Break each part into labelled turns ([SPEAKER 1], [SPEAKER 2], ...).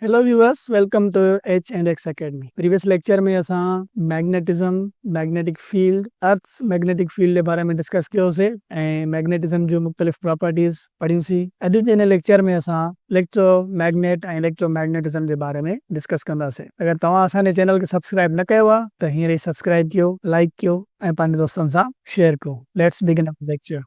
[SPEAKER 1] Hello viewers welcome to H and X academy previous lecture ۾ اسان magnetism magnetic field earth's magnetic field جي باري ۾ discuss ڪيو سي ۽ magnetism جون مختلف properties پڙهيون سي اڄ جي هن ليڪچر ۾ اسان اليڪٽرو ميگنيٽ ۽ اليڪٽرو ميگنيٽزم جي باري ۾ ڊسڪس ڪندا سي اگر توهان اسان جي چينل کي سبسڪرائب نه ڪيو آ ته هينئر ئي سبسڪرائب ڪيو لائيڪ ڪيو ۽ پنهنجي دوستن سان شيئر ڪيو let's begin our lecture.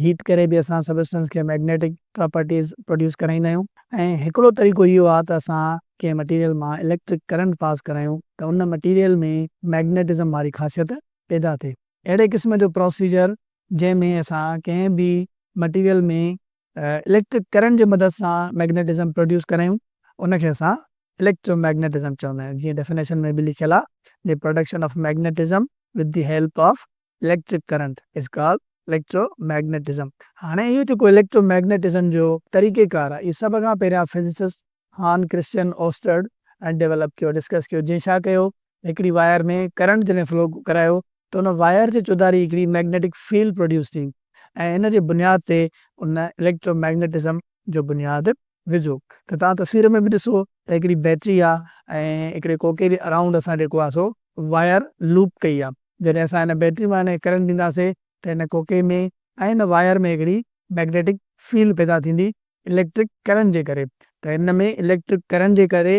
[SPEAKER 1] Heat ڪري به اسان سبسٽنس کي مئگنيٽڪ پراپرٽيز پروڊيوس ڪرائيندا آهيون ۽ هڪڙو طريقو اهو آهي ته اسان ڪنهن مٽيريل مان اليڪٽرڪ ڪرنٽ پاس ڪرايون ته ان مٽيريل ۾ مئگنيٽزم واري خاصيت پيدا ٿئي. اهڙي قسم جو پروسيجر جنهن ۾ اسان ڪنهن به مٽيريل ۾ اليڪٽرڪ ڪرنٽ جي مدد سان مئگنيٽزم پروڊيوس ڪرايون ان کي اسان اليڪٽرو مئگنيٽزم چوندا آهيون جيئن ڊيفينيشن ۾ به لکيل آهي The production of magnetism with the help of electric current is called electromagnetism. هاڻي اهو جيڪو اليڪٽرو ميگنيٽزم جو طريقه ڪار آهي اهو سڀ کان پهريان فزسسٽ هان ڪرسچن اوسٽرڊ ۽ ڊيولپ ڪيو، ڊسڪس ڪيو، جنهن ڇا ڪيو هڪڙي واير ۾ ڪرنٽ جڏهن فلو ڪرايو ته ان واير جي چوڌاري هڪڙي ميگنيٽڪ فيلڊ پروڊيوس ٿي ۽ ان جي بنياد تي ان اليڪٽرو ميگنيٽزم جو بنياد وجهو ته توهان تصوير ۾ به ڏسو ته هڪڙي بيٽري آ ۽ هڪڙي ڪوڪي جي اراونڊ اسان جيڪو آ سو واير لوپ ڪئي آ جڏهن اسان هن بيٽري مان هن کي ڪرنٽ ڏينداسي ته هن ڪوڪي ۾ ۽ هن واير ۾ هڪڙي مئگنيٽڪ فيلڊ پيدا ٿيندي اليڪٽرڪ ڪرنٽ جي ڪري ته هن ۾ اليڪٽرڪ ڪرنٽ جي ڪري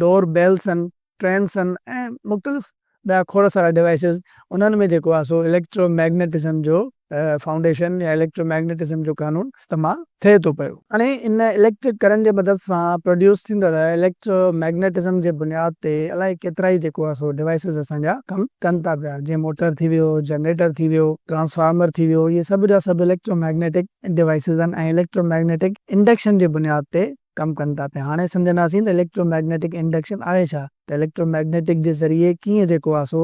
[SPEAKER 1] ڊور بيلس آهن، ٽرينس آهن ۽ مختلف ٻيا کوڙ سارا ڊوائسز انهن ۾ جيڪو آهي سو اليڪٽرو ميگنيٽزم جو فائونڊيشن يا اليڪٽرو ميگنيٽزم جو قانون استعمال ٿئي ٿو پيو. هاڻي ان اليڪٽرڪ ڪرنٽ جي مدد سان پروڊيوس ٿيندڙ اليڪٽرو ميگنيٽزم جي بنياد تي الائي ڪيترائي جيڪو آهي سو ڊوائسز اسان جا ڪم ڪن ٿا پيا جيئن موٽر ٿي ويو، جنريٽر ٿي ويو، ٽرانسفارمر ٿي ويو اهي سڀ جا سڀ اليڪٽرو ميگنيٽڪ ڊوائسز آهن ۽ اليڪٽرو ميگنيٽڪ انڊڪشن جي بنياد تي ڪم ڪن ٿا پيا. هاڻي سمجهنداسين ته اليڪٽرو مئگنيٽڪ انڊڪشن آهي ڇا؟ ته اليڪٽرو مئگنيٽڪ جي ذريعي ڪيئن جيڪو آهي سو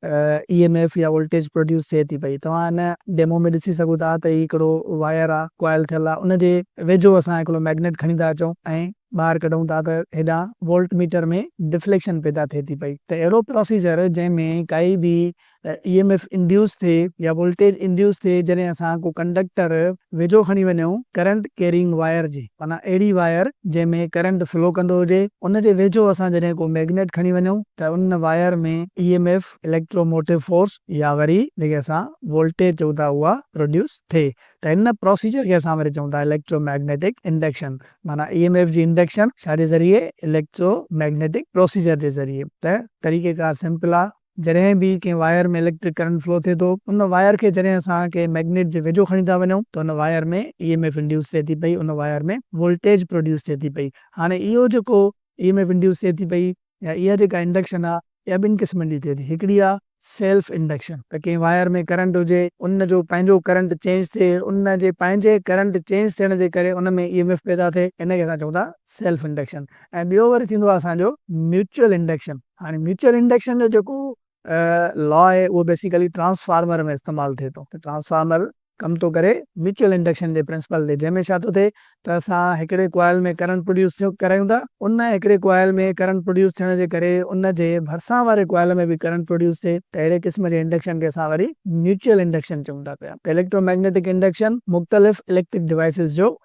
[SPEAKER 1] اي ايم ايف يا ولٽيج پروڊيوس ٿئي ٿي پئي. توهان هن ڊيمو ۾ ڏسي سگهو ٿا ته هي هڪڙو واير آهي، ڪوائل ٿيل آهي، ان جي ويجهو اسان هڪڙو مئگنيٽ کڻي ٿا اچون ۽ ٻاهر ڪڍون ٿا ته هيڏانهن ولٽ ميٽر ۾ ڊفليڪشن پيدا ٿئي ٿي پئي. ته اهڙو پروسيجر جنهن ۾ ڪائي به ته اي ايم ايف انڊيوس ٿئي يا ولٽيج انڊيوس ٿئي جڏهن اسان ڪو ڪنڊڪٽر ويجهو کڻي وڃون ڪرنٽ ڪيرينگ وائر جي معنيٰ اهڙي وائر جنهن ۾ ڪرنٽ فلو ڪندو هجي ان جي ويجهو اسان جڏهن ڪو ميگنيٽ کڻي وڃون ته ان wire ۾ E M F electromotive force يا وري جنهن کي اسان ولٽيج چئون ٿا اها پروڊيوس ٿئي ته ان پروسيجر کي اسان وري چئون ٿا اليڪٽرو ميگنيٽڪ انڊڪشن معنيٰ اي ايم ايف جي انڊڪشن ڇا جي ذريعي اليڪٽرو ميگنيٽڪ پروسيجر جي ذريعي ته طريقيڪار سمپل آ. جڏهن به ڪنهن واير ۾ اليڪٽرڪ ڪرنٽ فلو ٿئي ٿو ان واير کي جڏهن اسان ڪنهن مئگنيٽ جي ويجهو کڻي ٿا وڃون ته ان wire ۾ E M F induce ٿئي ٿي پئي ان واير ۾ ولٽيج پروڊيوس ٿئي ٿي پئي هاڻي اهو جيڪو اي ايم ايف انڊيوس ٿئي ٿي پئي يا اها جيڪا انڊڪشن آ اها ٻن قسمن جي ٿئي ٿي هڪڙي آ سيلف انڊڪشن ته ڪنهن واير ۾ ڪرنٽ هجي ان جو پنهنجو ڪرنٽ چينج ٿئي ان جي پنهنجي ڪرنٽ چينج ٿيڻ جي ڪري ان ۾ اي ايم ايف پيدا ٿئي ان کي اسان چئون ٿا سيلف انڊڪشن ۽ ٻيو وري ٿيندو آ اسان جو ميوچل انڊڪشن. هاڻي ميوچل انڊڪشن جو جيڪو لا آهي اهو بيسيڪلي ٽرانسفارمر ۾ استعمال ٿئي ٿو ته ٽرانسفارمر ڪم ٿو ڪري ميوچل انڊڪشن جي پرنسپل تي جنهن ۾ ڇا ٿو ٿئي ته اسان هڪڙي ڪوائل ۾ ڪرنٽ پروڊيوس ٿيو ڪرايون ٿا ان هڪڙي ڪوائل ۾ ڪرنٽ پروڊيوس ٿيڻ جي ڪري ان جي ڀرسان واري ڪوائل ۾ به ڪرنٽ پروڊيوس ٿئي ته اهڙي قسم جي انڊڪشن کي اسان وري ميوچل انڊڪشن چئون ٿا پيا ته اليڪٽرو مئگنيٽڪ انڊڪشن مختلف اليڪٽرڪ ڊوائيسز جو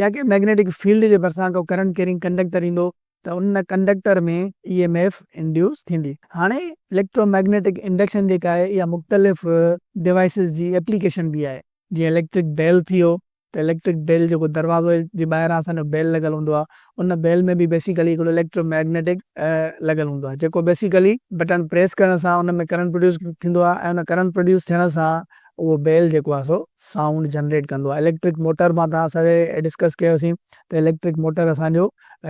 [SPEAKER 1] يا ڪنهن مئگنيٽڪ فيلڊ جي ڀرسان ڪو ڪرنٽ ڪيرنگ ڪنڊڪٽر ايندو ته ان conductor ۾ E M F induce ٿيندي. هاڻي اليڪٽرو مئگنيٽڪ انڊڪشن جيڪا آهي اها مختلف ڊوائسز جي ايپليڪيشن به آهي. جيئن اليڪٽرڪ بيل ٿي ويو ته اليڪٽرڪ بيل جيڪو دروازي جي ٻاهران اسان جو بيل لڳل هوندو آهي ان بيل ۾ به بيسيڪلي هڪڙو اليڪٽرو مئگنيٽڪ لڳل هوندو آهي جيڪو بيسيڪلي بٽڻ پريس ڪرڻ سان ان ۾ ڪرنٽ پروڊيوس ٿيندو آهي ۽ ان ڪرنٽ پروڊيوس ٿيڻ سان اهو بيل جيڪو آهي سو سائونڊ جنريٽ ڪندو آهي اليڪٽرڪ موٽر مان توهان سان ڊسڪس ڪيوسين ته اليڪٽرڪ موٽر اسان جو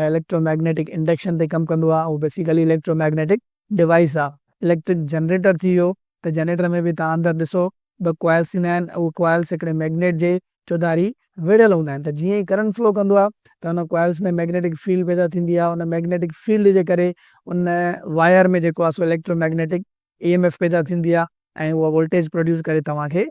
[SPEAKER 1] اليڪٽرو ميگنيٽڪ انڊڪشن تي ڪم ڪندو آهي اهو بيسيڪلي اليڪٽرو ميگنيٽڪ ڊوائيس آهي اليڪٽرڪ جنريٽر ٿي ويو ته جنريٽر ۾ به توهان اندر ڏسو ٻه ڪوائلس ٿيندا آهن اهي ڪوائلس هڪڙي ميگنيٽ جي چوڌاري ويڙهيل هوندا آهن ته جيئن ئي ڪرنٽ فلو ڪندو آهي ته ان ڪوائلس ۾ ميگنيٽڪ فيلڊ پيدا ٿيندي آهي ان ميگنيٽڪ فيلڊ جي ڪري ان واير ۾ جيڪو آهي سو electromagnetic E M F پيدا ٿيندي آهي ۽ اهو ولٽيج پروڊيوس ڪري توهان کي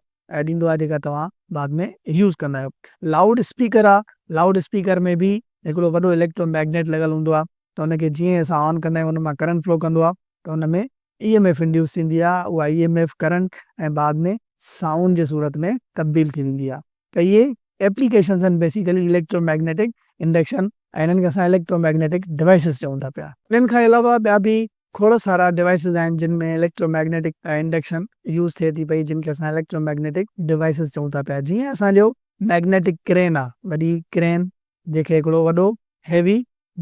[SPEAKER 1] ڏيندو آهي جيڪا توهان بعد ۾ يوز ڪندا آهيو. لائوڊ اسپيڪر آهي لائوڊ اسپيڪر ۾ به هڪڙو وڏو اليڪٽرو ميگنيٽ لڳل هوندو آهي ته ان کي جيئن اسان آن ڪندا آهيون ان مان ڪرنٽ فلو ڪندو آهي ته ان ۾ اي ايم ايف انڊيوس ٿيندي آهي اها اي ايم ايف ڪرنٽ ۽ بعد ۾ سائونڊ جي صورت ۾ تبديل ٿي ويندي آهي ته اهي ايپليڪيشنز آهن بيسيڪلي اليڪٽرو ميگنيٽڪ انڊڪشن ۽ انهن کي اسان اليڪٽرو ميگنيٽڪ ڊوائسز چئون ٿا پيا. انهن کان علاوه ٻيا به کوڙ سارا ڊوائسز آهن جن ۾ اليڪٽرو ميگنيٽڪ انڊڪشن يوز ٿئي ٿي پئي جن کي اسان اليڪٽرو ميگنيٽڪ ڊوائسز چئون ٿا پيا جيئن اسان جو ميگنيٽڪ ڪرين آهي وڏي ڪرين جنهن کي هڪڙو وڏو هيوي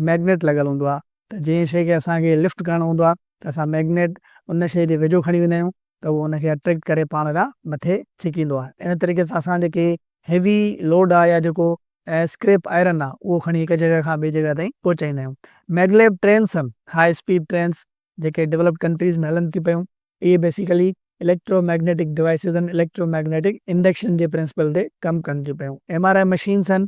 [SPEAKER 1] ميگنيٽ لڳل هوندو آهي ته جنهن شيء کي اسان کي لفٽ ڪرڻو هوندو آهي ته اسان ميگنيٽ ان شيء جي ويجهو کڻي ويندا آهيون ته اهو ان کي اٽريڪٽ ڪري پاڻ ڏانهن مٿي ڇڪيندو آهي ان طريقي سان اسان جيڪي هيوي لوڊ آهي يا جيڪو اسڪريپ آئرن آهي اهو کڻي هڪ جڳهه کان ٻي جڳهه تائين پهچائيندا آهيون maglev trains ۽ high speed trains جيڪي ڊولپڊ ڪنٽريز ۾ هلن ٿي پيون اهي basically electromagnetic devices ۽ electromagnetic induction جي پرنسپل تي ڪم ڪن ٿيون پيون ايم آر آء مشينس ۽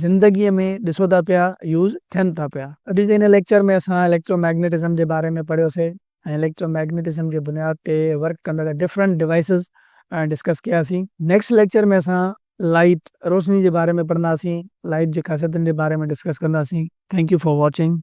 [SPEAKER 1] زندگيء ۾ ڏسو ٿا پيا يوز ٿين ٿا پيا. اڄ جي هن ليڪچر ۾ اسان اليڪٽرو ميگنيٽزم جي باري ۾ پڙهيو سي ۽ اليڪٽرو ميگنيٽزم جي بنياد تي ورڪ ڪندڙ ڊفرنٽ ڊوائسز ڊسڪس ڪيا سي. نيڪسٽ ليڪچر ۾ اسان لائيٽ، روشني، جي باري ۾ پڙهندا سين. لائيٽ جي خاصيتن جي باري ۾ ڊسڪس ڪندا سين. Thank you for watching.